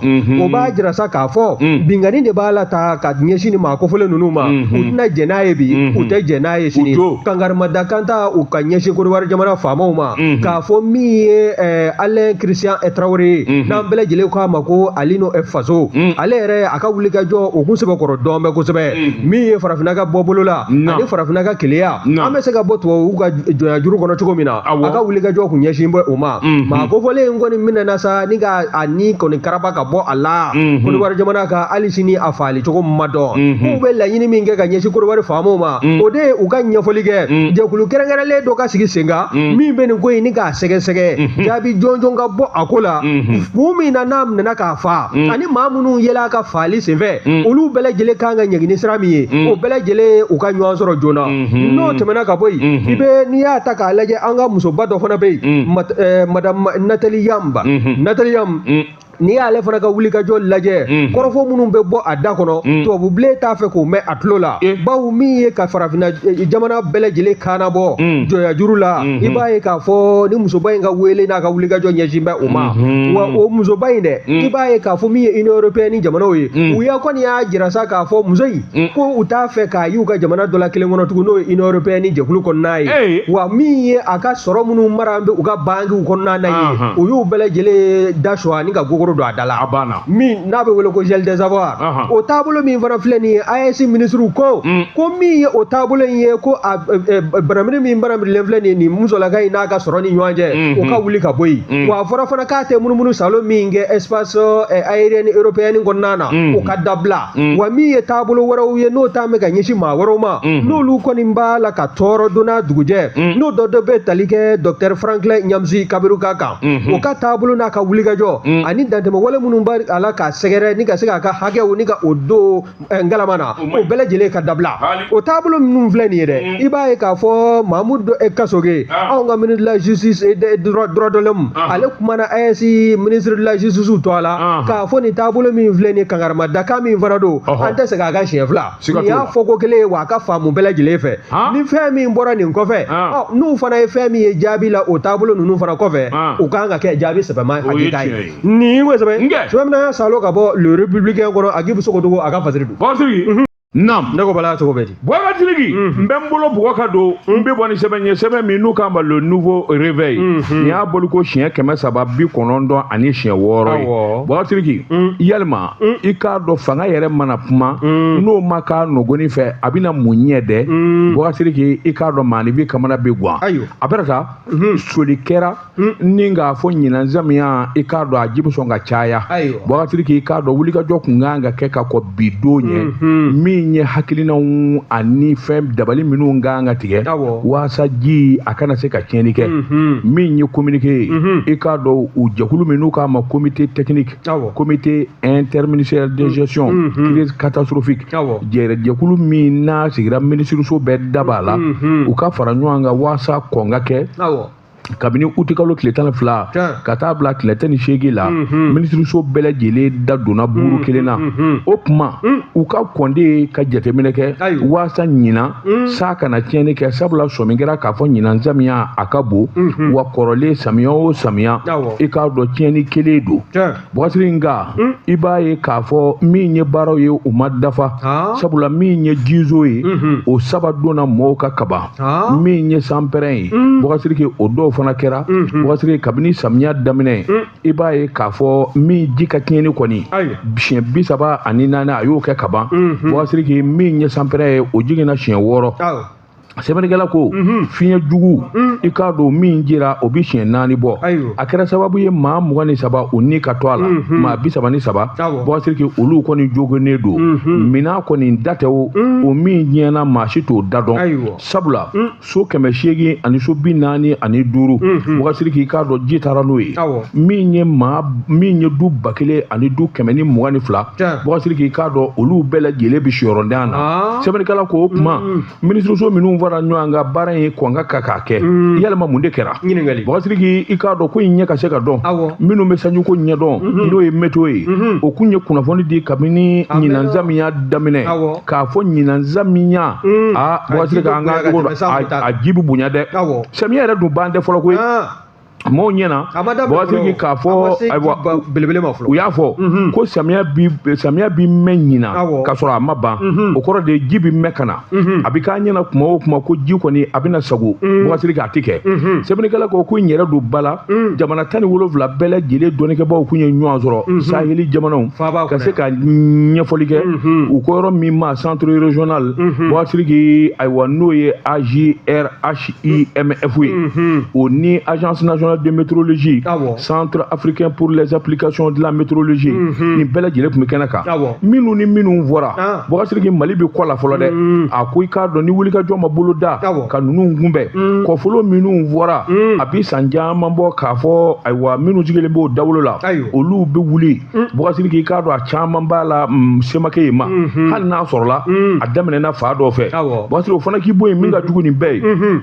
o b'a jira sa k'a fɔ mm. binkanni de b'a la ta ka ɲɛsin nin maa kofɔlen ninnu ma u tɛna jɛn n'a ye bi u tɛ jɛn n'a ye sini kankarimada kan ta u ka ɲɛsin kodiwari jamana faamaw ma k'a fɔ min ye alain christian tarawele ye n'an bɛɛ lajɛlen k'a ma ko alino faso ale yɛrɛ a ka wulikajɔ o kun sɛbɛkɔrɔ dɔn bɛ kosɛbɛ min ye farafinna ka bɔ bolo la ani farafinna ka kelenya an bɛ se ka bɔ tubabu ka jɔnya juru kɔnɔ cogo min na a ka wulikajɔ kun ɲɛsin bɛ o ma maa kofɔlen in kɔni minɛna sa ni k'a ni kɔni karaba ka bɔ a la mhm. kodiwari jamana kan hali sini a faali cogo ma dɔn mhm. k'u bɛ laɲini min kɛ ka ɲɛsin kodiwari faamaw ma mhm. o de ye u ka ɲɛfɔli kɛ jɛkulu kɛrɛnkɛrɛnlen dɔ ka sigi sen kan min bɛ nin ko ɲini k'a sɛgɛsɛgɛ jaabi jɔnjɔn ka bɔ a ko la kun min na n'a minɛna k'a fa ani maa minnu yela a ka faali senfɛ olu bɛɛ lajɛlen kan ka ɲangi ni sira min ye o bɛɛ lajɛlen ka ɲɛ sɔrɔ joona n'o tɛmɛna ka bɔ yen i bɛ n'i y'a ta k'a lajɛ an ka musoba dɔ fana bɛ yen eh, madamu nathalie yamb nathalie yamb mm. n'i y'ale fana ka wulikajɔ lajɛ mm. kɔrɔfɔ minnu bɛ bɔ a da kɔnɔ mm. tubabubilen t'a fɛ k'o mɛn a tulo la eh. bawo min ye ka farafinna eh, jamana bɛɛ lajɛlen kaana bɔ mm. jɔnyajuru la mm-hmm. i b'a ye k'a fɔ ni musoba in ka wele n'a ka wulikajɔ ɲɛsin bɛ o ma mm-hmm. wa o musoba in dɛ i b'a ye k'a fɔ min ye union européenne jamanaw ye u y'a kɔni y'a jira sa k'a fɔ muso in Mm. ko u t'a fɛ k'a y'u ka jamana dɔ la kelen kɔnɔ tugun n'o ye union européenne ni jɛkulu kɔnɔna ye wa min ye a ka sɔrɔ minnu mara bɛ u ka bankiw kɔnɔna na ye u y'u bɛɛ lajɛlen da sɔgɔ ani ka gogoro don a da la min n'a bɛ wele ko gel des avoirs o taabolo min fana filɛ nin ye AES minisiriw ko mm. ko min ye o taabolo in ye ko a banamini min banamirilen filɛ nin ye nin musolaka in n'a ka sɔrɔ ni ɲɔgɔn cɛ mm-hmm. o ka wuli ka bɔ yen mm. wa a fɔra fana k'a tɛ munumunu salon min kɛ espace aérienne européenne kɔnɔna na o ka dabila mm. wa min ye taabolo wɛrɛw ye n'o ta bɛ ka ɲɛsin maa wɛrɛw ma mm-hmm. n'olu kɔni b'a la ka tɔɔrɔ don n'a dugujɛ mm. n'o dɔ dɔ bɛ tali kɛ docteur franklin nyamsi kamerunka kan mm-hmm. o ka taabolo n'a ka wulikajɔ mm. ani dantɛmɛwale minnu b'a la k'a sɛgɛrɛ ni ka se k'a ka hakɛw ni ka o don eh, ngalama na o bɛɛ lajɛlen ka dabila o taabolo minnu filɛ nin ye dɛ i b'a ye k'a fɔ mamoudou eh, kassogué ah. anw ka ministre de la justice et eh, droit de l'homme ah. ale kumana AES ministre de la justice tɔgɔ la ah. k'a fɔ nin taabolo min filɛ nin kankarimadakan min fana don an tɛ segin a kan siɲɛ fila nin y'a fɔ ko kelen ye wa a ka faamu bɛɛ lajɛlen fɛ ni fɛn min bɔra nin kɔfɛ n'u fana ye fɛn min ye jaabi la o taabolo ninnu fana kɔfɛ u kan ka kɛ jaabi sɛbɛma hakilita ye nin ko sɛbɛn sɛbɛn min na salo ka bɔ le républicain kɔnɔ aguibou sogodogo a ka fasiri don Naamu. Ne ko
bala cogo bɛ
di. Boubacar Sidiki.
N bɛ n bolo bɔgɔ ka don. N bɛ bɔ ni sɛbɛn ye sɛbɛn min n'u k'a ma le nouveau réveil. Nin y'a bɔliko siɲɛ kɛmɛ saba bi kɔnɔntɔn ani siɲɛ wɔɔrɔ ye. Awɔ. Boubacar Sidiki. Yalima. I k'a dɔn fanga yɛrɛ mana kuma. N'o ma k'a nɔgɔni fɛ a bɛna mun ɲɛ dɛ. Boubacar Sidiki i k'a dɔn maaninfin kamana bɛ gwan. Ayiwa. A bɛ taa. Sɔmi kɛra. ni k'a fɔ ɲinan samiya i k'a dɔn a ji bɛ sɔn ka caya boubacar sidiki i k'a dɔn wulikajɔ kun kan ka kɛ ka kɔn bi don ɲɛ mhm. min ye hakilinanw ani fɛn dabali minnu kan ka tigɛ waasa ji a kana se ka tiɲɛni kɛ mhm. min ye kominike ye mhm. i k'a dɔn u jɛkulu min n'u k'a ma comité technique comité interministériel de gestion crise catastrophique jɛkulu min n'a sigira minisiriso bɛɛ da b'a la u ka fara ɲɔgɔn kan waasa kɔn ka kɛ kabini utikalo tile tan ni fila ka taa bila tile tan ni seegin la mhm. minisiriso bɛɛ lajɛlen da donna mhm. buru kelen na mhm. o tuma u ka kɔn de ka jateminɛ kɛ waasa ɲinan san kana tiɲɛni kɛ sabula sɔmi kɛra k'a fɔ ɲinan samiya a ka bon wa kɔrɔlen samiya o samiya i k'a dɔn tiɲɛni kɛlen don boubacar sidiki nka hmm? i b'a ye k'a fɔ min ye baaraw ye u ma dafa sabula min ye jizo ye hmm. o saba donna mɔgɔw kan kaban min ye sanpɛrɛn ye hmm. boubacar sidiki o dɔw fana kɛra boubacar sidiki kabini samiya daminɛ i b'a ye k'a fɔ min ji ka tiɲɛni kɔni siɲɛ bi saba ani naani a y'o kɛ kaban boubacar sidiki min ye sanpɛrɛn ye o jiginna siɲɛ wɔɔrɔ sɛbɛnnikɛla ko mhm. fiɲɛ jugu mhm. i k'a dɔn min cira o bi siɲɛ naani bɔ a kɛra sababu ye maa mugan ni saba o ni ka to a la mhm. maa bi saba ni saba boubacar sidiki olu kɔni jogonnen don minan kɔni da tɛ o o min tiɲɛna maa si t'o da dɔn sabula so kɛmɛ seegin ani so bi naani ani duuru boubacar sidiki i k'a dɔn ji taara n'o ye min ye maa min ye du ba kelen ani du kɛmɛ ni mugan ni fila boubacar sidiki i k'a dɔn olu bɛɛ lajɛlen bɛ siyɔrɔntanya na ah. sɛbɛnnikɛla ko o kuma mm. minisiriso minnu fara ɲɔgɔn kan baara in kun ka kan ka kɛ mm. yalima mun de kɛra boubacar sidiki i k'a dɔn ko in ɲɛ ka se ka dɔn minnu bɛ sanjiko ɲɛdɔn mm-hmm. n'o ye météo ye mm-hmm. o kun ye kunnafoni di kabini ɲinan samiya daminɛ k'a fɔ ɲinan samiya mm. aa boubacar sidiki an ka a ji bɛ bonya dɛ samiya yɛrɛ dun ban tɛ fɔlɔ koyi ah. mɔgɔw ɲɛna boubacar sidiki k'a fɔ ayiwa belebele ma fɔlɔ u y'a fɔ mhm. ko samiya bi samiya bi mɛn ɲinan ka sɔrɔ a ma ban mhm. o kɔrɔ de ji bi mɛn ka na mhm. a bi k'a ɲɛna kuma o kuma ko ji kɔni a bɛna sago boubacar sidiki a ti kɛ sɛbɛnnikɛla ko ko n yɛrɛ don ba la jamana tan ni wolonwula bɛɛ lajɛlen dɔnnikɛbaaw kun ye ɲɔgɔn sɔrɔ saheli jamanaw ka se ka ɲɛfɔli kɛ u ko yɔrɔ min ma centre régional boubacar sidiki ayiwa n'o ye agrh IMF ye mhm. o ni agence nationale de météorologie centre africain pour les applications de la météorologie mhm. nin bɛɛ lajɛlen tun bɛ kɛnɛ kan minnu ni minnu fɔra ah. boubacar sidiki mali bɛ kɔ la fɔlɔ dɛ mhm. a ko i k'a dɔn ni wulikajɔ ma boloda ka ninnu kunbɛn kɔfolo minnu fɔra a bɛ san caman bɔ k'a fɔ ayiwa minnu sigilen b'o dawolo la olu bɛ wuli boubacar sidiki i k'a dɔn a caman b'a la mm, se ma kɛ yen ma Mhm. hali n'a sɔrɔla Mm. a daminɛna fan dɔ fɛ Awɔ. boubacar sidiki o fana k'i bɔ yen min ka jugu nin bɛɛ ye Mhm.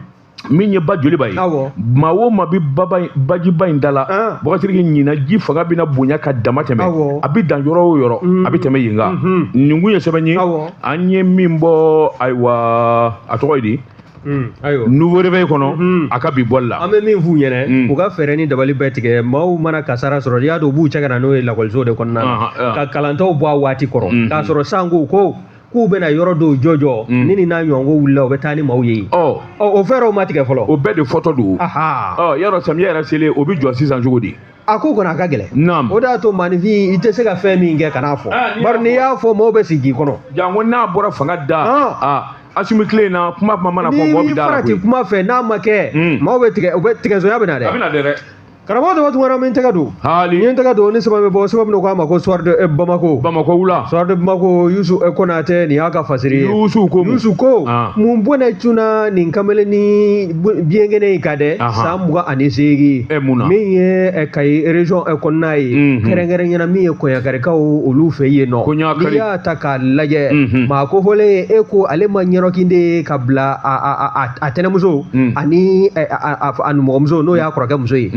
min ye ba joliba ye Awɔ. maa o maa bɛ baba in- bajiba in da la Ah. boubacar sidiki ɲinan ji fanga bɛna bonya ka damatɛmɛ Awɔ. a bɛ dan yɔrɔ o yɔrɔ a bɛ tɛmɛ yen kan Mhm. nin kun ye sɛbɛn ye Awɔ. an ye min bɔ ayiwa a tɔgɔ ye di Hmm, ayiwa nouveau réveil kɔnɔ hmm. a ka bi bɔli la an bɛ min f'u ɲɛna
hmm. u ka fɛɛrɛ ni dabali bɛɛ tigɛ maaw mana kasara sɔrɔ i y'a dɔn u b'u cɛ ka na n'o ye lakɔlisow de kɔnɔna na ah, ah. ka kalantaw bɔ a waati kɔrɔ k'a sɔrɔ san ko ko k'u bɛna yɔrɔ dɔw jɔjɔ ni nin n'a ɲɔgɔnko wulila u bɛ taa ni maaw ye yen oh. oh, o fɛɛrɛw ma tigɛ fɔlɔ o bɛɛ de fɔtɔ don oh,
yala samiya yɛrɛ selen o bɛ jɔ sisan cogo di a ko kɔni a ka
gɛlɛn naam o de y'a to maaninfin i tɛ se ka fɛn min kɛ kan'a fɔ Ah, bari n'i y'a fɔ mɔgɔw bɛ sigi k'i kɔnɔ janko n'a bɔra fanga
da Ah. a asimi tile in na kuma kuma mana fɔ mɔgɔ n'i bɛ
da la
farati
koyi
kuma fɛ
n'a ma
kɛ
Mm.
maaw
bɛ tigɛ u bɛ tigɛsoya bɛ na a dɛ
bɛna dɛ
dɛ karamɔgɔ dɔ tun kɛra min tɛgɛ don n hali ye n tɛgɛ don
ni sɛbɛn bɛ
bɔ sɛbɛn bɛ k'a ma ko soir de eh, bamako bamakɔ wula soir de
bamako
yusu eh, konatɛ nin y'a ka fasiri ye yusu ko mun? yusu ko Ah. mun bɔnɛ cunna nin kamalen ni biyɛnkɛnɛ in ka dɛ san mugan ani seegin min ye kayi région kɔnɔna ye kɛrɛnkɛrɛnya na min ye kɔɲakarikaw olu fɛ yen nɔ n'i y'a ta k'a lajɛ maa ko fɔlen ye e ko ale ma ɲɛrɔkinde ye ka bila a tɛnɛmuso ani a numɔgɔmuso n'o y'a kɔrɔkɛ muso ye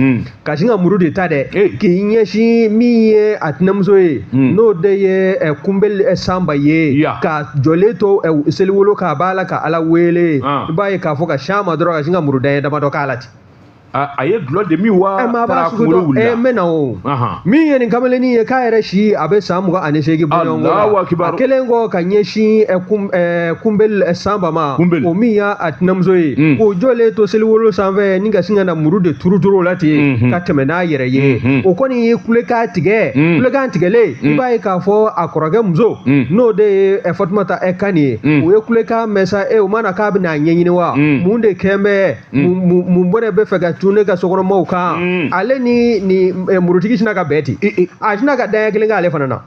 ka sin ka muru de ta dɛ k'i ɲɛsin min ye a tɛnɛmuso ye hmm. n'o de ye eh, kunbeli eh, sanba ye k'a jɔlen to eh, seliwolo kan a b'a la ka ala wele ah. i b'a ye k'a fɔ ka sin a ma dɔrɔn ka sin ka muru daɲɛ damadɔ k'a la ten a ye
dulɔ de min wa taara kunkolo wulila n bɛ na
o min ye nin kamalennin ye k'a yɛrɛ si a bɛ san mugan ani seegin bɔ ɲɔgɔn la a kɛlen kɔ ka ɲɛsin kunbeli sanba ma o min y'a tɛnɛmuso ye mm. k'o jɔlen to seliwolo sanfɛ ni ka sin ka na muru de turuturu o la ten mm-hmm. ka tɛmɛ n'a yɛrɛ ye mm-hmm. o kɔni ye kulekan tigɛ mm. kulekan tigɛlen i mm. b'a ye k'a fɔ a kɔrɔkɛ muso n'o de ye eh, fatumata eh, kani ye o ye kulekan mɛn sa e eh, o ma na k'a bɛna a ɲɛɲini wa mun de kɛlen bɛ mun bɔnɛ bɛ fɛ ka cun ne ka sokɔnɔmaw kan ale ni ni murutigi sina ka bɛn ten a sina ka daɲɛ kelen k'ale fana na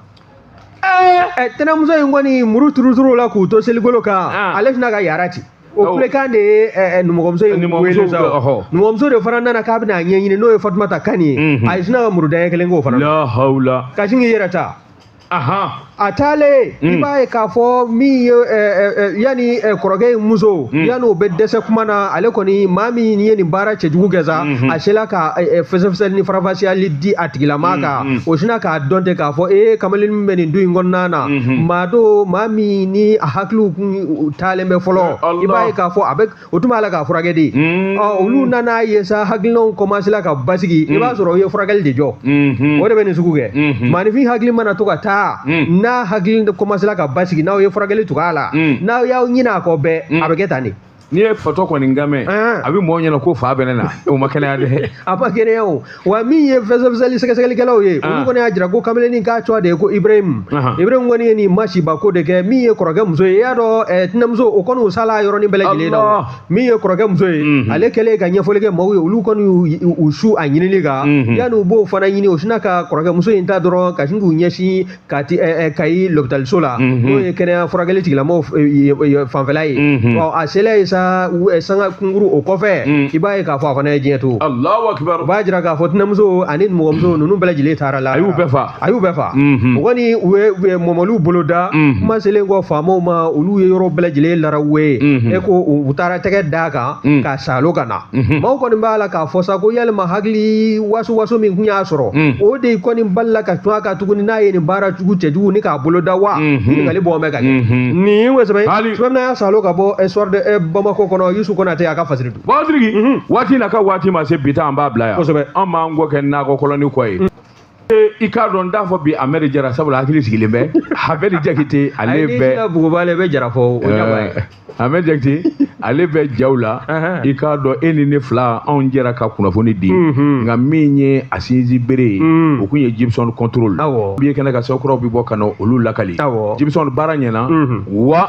ɛɛ tɛnɛmuso in kɔni muru turuturu la k'o to seligolo kan ah. ale sinna ka yara ci o oh. kulekan de ye eh, eh, numɔgɔmuso in wele sa numɔgɔmuso de fana nana k'a bɛna a ɲɛɲini n'o ye fatumata kani ye mhm. a sinna ka muru daɲɛ kelen k'o fana na ka sin k'i yɛrɛ ta a taalen i mm. b'a ye k'a fɔ min ye eh, eh, eh, yanni kɔrɔkɛ in muso mm. yanni o bɛ dɛsɛ kuma na ale kɔni maa min ye nin baara cɛjugu kɛ sa mm-hmm. a sela ka fɛsɛfɛsɛli ni faranfasiyali di a tigilama mm. kan Mm. o sina k'a dɔn ten k'a fɔ e eh, kamalen min bɛ nin du in kɔnɔna na mm-hmm. maa don maa min ni a hakiliw kun taalen bɛ fɔlɔ i b'a ye k'a fɔ a bɛ o tun b'a la k'a furakɛ de mm. ɔ olu nana ye sa hakilinaw kɔmansela ka basigi i mm. b'a sɔrɔ u ye furakɛli de jɔ mm-hmm. o de bɛ nin sugu kɛ mm-hmm. maanifin hakili mana to ka taa n'a hakili kɔmansela ka basigi n'aw ye furakɛli tug'a la n'aw y'aw ɲin'a kɔ bɛɛ a bɛ kɛ tan de n'i ye fatɔ
kɔni kan mɛn a bɛ mɔgɔw ɲɛna ko fa bɛ ne na o ma kɛnɛya dɛ a ma kɛnɛya
o wa min ye fɛsɛfɛsɛli sɛgɛsɛgɛlikɛlaw ye olu kɔni y'a jira ko kamalennin k'a tɔgɔ de ye ko ibrahim ibrahim kɔni ye nin masiba ko de kɛ min ye kɔrɔkɛ muso ye i y'a dɔn eh, tɛnɛmuso o kɔni o sala yɔrɔnin bɛɛ lajɛlen na min ye kɔrɔkɛ muso ye mhm. ale kɛlen ka ɲɛfɔli kɛ maaw ye olu kɔni u su a ɲinili kan mhm. yanni u b'o fana ɲini o sina ka kɔrɔkɛ muso in ta dɔrɔn ka sin k'u ɲɛsin ka ti eh, eh, kayi lopitaliso la mhm. n'o ye kɛnɛya furakɛli tigilamɔgɔw eh, fanfɛla ye mhm. ɔ a sela ye sa sanga kunkuru o kɔfɛ mhm. i b'a ye k'a fɔ a fana ye diɲɛ to u b'a jira
k'a fɔ tɛnɛmuso
ani nimɔgɔmuso ninnu bɛɛ lajɛlen taara la a y'u bɛɛ fa a
y'u
bɛɛ
fa o
kɔni u ye mɔmɔliw bolo da kuma selen kɔ faamaw ma olu ye yɔrɔ bɛɛ lajɛlen larawe ye e ko u taara tɛgɛ d'a kan k'a salo ka na Mhm. Maaw kɔni b'a la k'a fɔ sa ko yalima hakili waso waso min kun y'a sɔrɔ mhm. o de kɔni balala ka cun a kan tuguni n'a ye nin baara jugu cɛjugu nin k'a bolo da wa mhm. ɲininkali bɔn bɛ ka kɛ nin ye sɛbɛn sumamina y'a salo ka bɔ eh, soir de eh, bamakɔ kɔnɔ yusu kɔnatɛ a ka fasiri don batiriki waati na ka
waati ma se bi ta an b'a bila yan kosɛbɛ an b'an kɔ kɛ nakɔ kɔlɔni kɔ ye i k'a dɔn n t'a fɔ bi amɛri jara sabula hakili sigilen bɛ amɛri jakite ale bɛ buguba ale bɛ jara fɔ
o ɲɛba ye amɛri
jakite ale bɛ jaw la i k'a dɔn e ni ne fila anw jɛra ka kunnafoni di nka min ye a sinsinbere ye o kun ye jibison control bi ye kɛnɛ kan sokuraw bi bɔ ka na olu lakali jibison baara ɲɛna wa